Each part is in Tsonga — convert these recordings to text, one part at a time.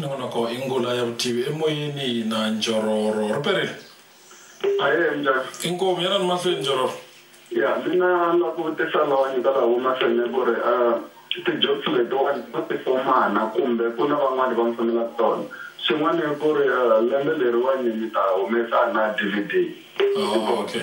nongonoko i ngula ya vutivi emoyeni na njororo riperi aye njhani inkomu yana ni mahlweni njororo ya mina la ku vutisa lawani ka laha mahlweni ku ri um ti-jobs letiwani to tifomana kumbe ku na van'wani va mi fanelaka tona xin'wana i ku ri um lembe leriwani mi ta humesa na d v d Oh, okay.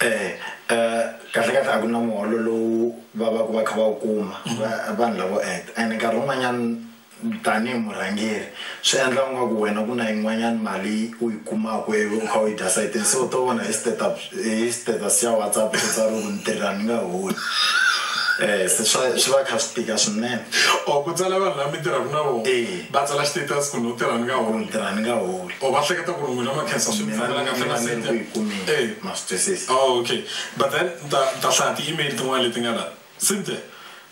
eh kahle kahle a ku na muholo lowu va va ku va kha va wu kuma mm-hmm. vanhu lavo act and nkarhi wun'wanyana tanihi murhangeri swi endla u nga ku wena ku na yin'wanyana mali u yi kumaka ivi u kha u yi dya sayitini se u to vona hi status hi status ya whatsapp swi tsariwe ku ni tirha ni nga holi Eh, se swa swi va kha swi tika swinene o oh, ku tsala vanhu lava mi tirhaka na vona eh. va tsala status ku ni u tirha ni nga holi tirha ni nga holi Oh, va hleketa ku ri n'wina ma khensa swi mi fambela kahle na set ya. Eh, ma swi twisisa. Oh, okay. But then ni ta, ni ta hlaya ti-email tin'wana leti nga la. Cynthia,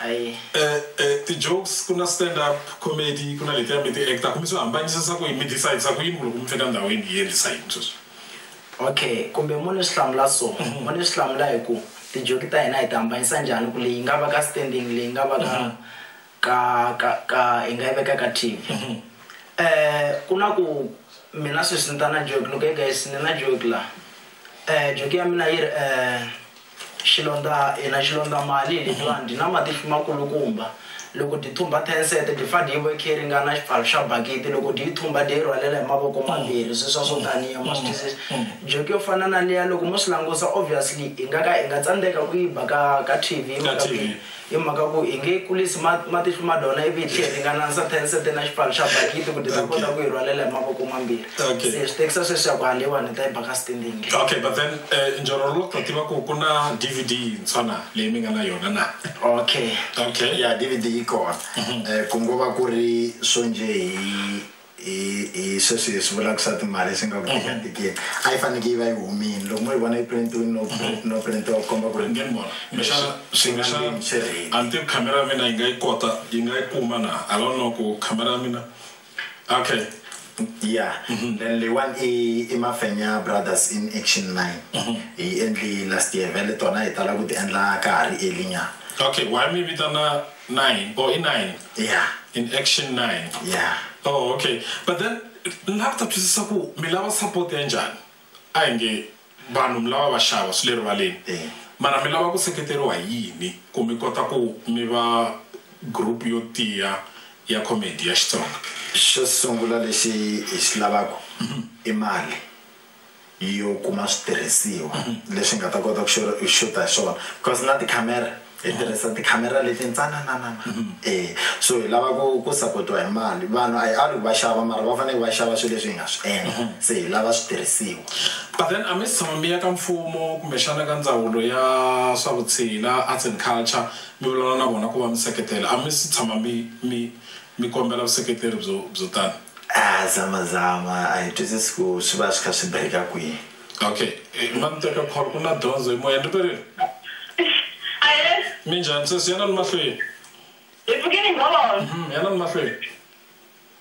Eh, eh, ti-jokes ku na stand up comedy, ku na letiya mi ti act-aka, mi swi hambanyisisa ku yini? Mi decide-sa ku yini ku loko mi fika ndhawini hi endlisa yini sweswi? Okay, kumbe mo ni swi hlamula so, mo ni swi hlamula hi ku ti-joke ta hina hi ti hambanyisa njhani ku leyi yi nga va ka standing, leyi yi nga va ka ka ka ka hi nga yi veka ka tv mhm. eh ku na ku mina sweswi ni ta na joke ni ku guys ni na joke la eh joke ya mina yi ri eh xilondza hina xilondza mali letiwani dyi na matihlo makulukumba loko dyi thumba tenset dyi fa dyi ve khe ringana xipfalo xa bakiti loko dyi yi thumba dyi yi rhwalela hi mavoko mm. mambirhi swi swa swo mm. taniya ma swi mm. twisisa joke yo fana na liya loko mo swi langusa obviously hi nga ka hi nga tsandzeka ku yi ba ka ka tv mhaka hi mhaka ku hi nge kulisi matihlu ma dona ivi hi tlhe hi ringananisa ten sete na xipano xa bakiti ku ti ta kota ku yi rhwalela hi mavoko mambirhi se swi tekisa sweswi ya ku haleyiwani hi ta yi baka sitendingi okay but then eh, njorolo lo ta tiva ku ku na dvd yintshwa na leyi mi nga na yona na okay okay ya dvd yi kona mhm. eh, ku ngo va ku ri swo nje hi hi hi sweswi hi swi vula ku swa timali swi nga ku tikatikiwa mhm. a yi fanekele yi va yi humini loko mo yi vona yi printiwini no mhm. no printiwa ku komba ku ri ni vona kumbexana kumbexana a ni tivi khamera ya mina yi nga yi kota yi nga yi kuma na a lo no ku khamera ya mina okay ya mhm. then leyiwani i i mafenya brothers in action line hi endli last year vele tona hi tala ku ti endla ka ha ri elinyana okay why mi vitana Nine or i nine ya in action nine ya oh okay but then ni lava ku ta twisisa ku mi lava support ya njhani a hi nge vanhu mi lava va xava swi le rivaleni Eh. mara mi lava ku seketeriwa hi yini ku mi kota ku mi va group yo tiya ya comedy ya xitsonga xo sungula lexi hi xi lavaka i mali yo kuma switirhisiwa leswi hi nga ta kota ku xuta hi swona because na tikhamera hi tirhisa tikhamera leti ntsanananana e so hi lava ku ku sapotiwa hi mali vanhu a hi ali ku va xava mara va fanele va xava swilo leswi hi nga swi endla se hi lava switirhisiwa but then a mi si tshama mi ya ka mfumo kumbexana ka ndzawulo ya swa vutshila arts and culture mi vulavula na vona ku va mi seketela a mi si tshama mi mi Mi kombela vuseketeri byo byo tano. Ah, zama zama. A hi twisisi ku swi va swi kha swi break-a kwihi. Ok. Ma ni teka call. Ku na dyondzo hi moya. Ni riperile. Ahee. Minjhani sesi? Yana ni mahlweni. Hi pfuke ni ngo. Uhm, yana ni mahlweni.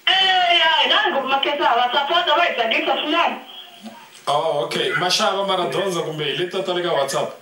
Eya, hi na ngopfu makhensani. Va sapota, va hi tsakisa swinene. Oh, ok. Ma xava mara dyondzo kumbe hi leti ta ta le ka WhatsApp?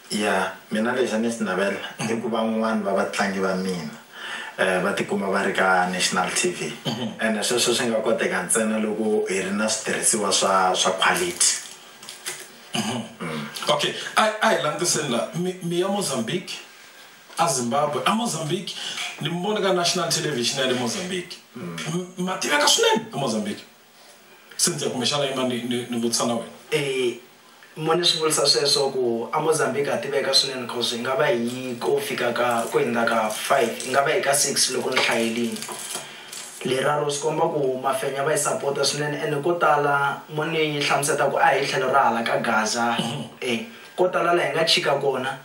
Ya, mina lexi a ni xi navela i ku van'wana va vatlangi va mina va tikuma va ri ka national TV ene sweswo swi nga koteka ntsena loko hi ri na switirhisiwa swa swa quality. Okay, a a hi langutiseni la mi mi ya Mozambique a Zimbabwe a Mozambique ni mi vone ka national television ya le Mozambique ma tiveka swinene a Mozambique. Cynthia, Kumbexana yima ni ni ni vutisa na wena. Eyi, mo ni swi vulisa sweswo ku a Mozambique ha tiveka swinene coz hi nga va hi yi ko fika ka ko hindza ka five hi nga va hi ka six loko ni hlayelini leraro swi komba ku mafenya va hi sapota swinene ene ko tala mo ni hlamuseta ku a hi tlhelo ra hala ka Gaza ko tala la hi nga chika kona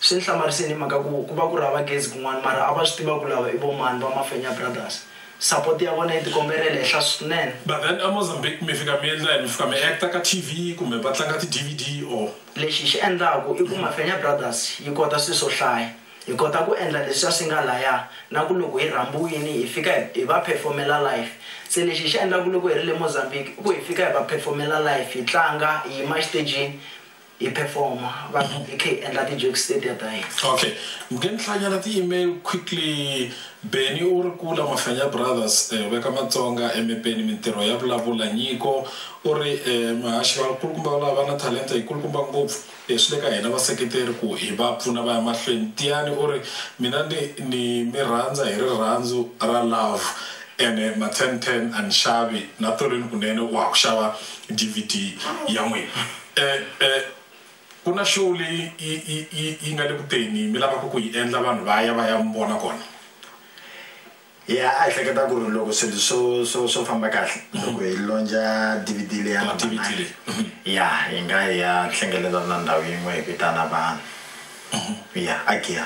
Swi ni hlamarise ni mhaka ku ku va ku ri hava gezi kun'wana mara a va swi tiva ku lava i vo mani va Mafenya Brothers. Support ya vona yi tikomberile henhla swinene. But then a Mozambique mi fika mi endla yini? Mi fika mi actor ka TV kumbe va tlanga ti DVD or? Lexi hi xi endlaku i ku Mafenya Brothers yi kota swilo swo hlaya. Hi kota ku endla leswiya swi nga laya na ku loko hi rhambiwini hi fika hi hi va perform-ela live. Se lexi hi xi endlaku loko hi ri le Mozambique i ku hi fika hi va perform-ela live hi tlanga hi yima exitejini Hi performer vanhu hi khe hi endla ti jokes tetiya ta hina. Ok nge ni hlanyela ti email quickly Benny u ri Kula Mahlanya Brothers veka Matsonga emepeni mintirho ya vulavula Nyiko u ri Mahaxi va kulukumba valava va na talenta yi kulukumba ngopfu swi le ka hina vaseketeri ku hi va pfuna va ya mahlweni Tiyani u ri Mina ni ni mi rhandza hi rirhandzu ra love ene ma ten ten a ni xavi na Tolweni Kunene wa ha ku xava DVD ya n'wina. E-e, ku na show leyi yi yi yi yi nga le kuteni mi lavaka ku yi endla vanhu va ya va ya mi vona kona ya a hi hleketa ku ri loko swilo swo swo swo famba kahle loko hi lonja dvd leyi ya number DVD nine leyi. ya hi nga hi ya hlengelela na ndhawu yin'we hi vitana vanhu ya a giya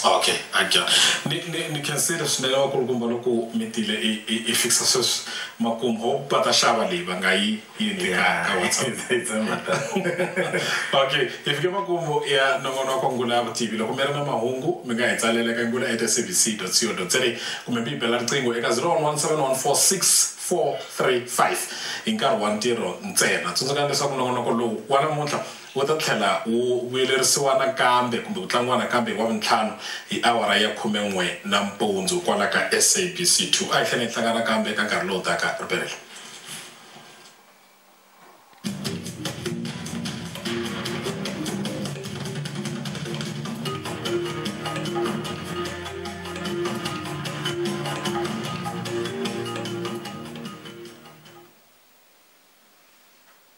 okay aja ni, ni, ni khensile swinene vakulukumba loko mi tile i, i, i fixa sweswi makumu ho va ta xava leyi va nga yi yini ka ka whatsapp okay hi fike makumu ya nongonoko wa ngula ya vutivi loko mi ri na mahungu mi nga hi tsalela ka ngula at sabc co za kumbe mi yi bela riqingho eka 0117143435 hi nkarhi wa ntirho ntsena tsundzukani leswaku nongonoko lowu wa namuntlha Wu ta tlhela wu vuyelerisiwa nakambe kumbe ku tlangiwa nakambe hi Wavuntlhanu hi awara ya khume-n'we nampundzu kwala ka SABC 2. A hi tlhela hi hlangana nakambe eka nkarhi lowu taka. Ripelela.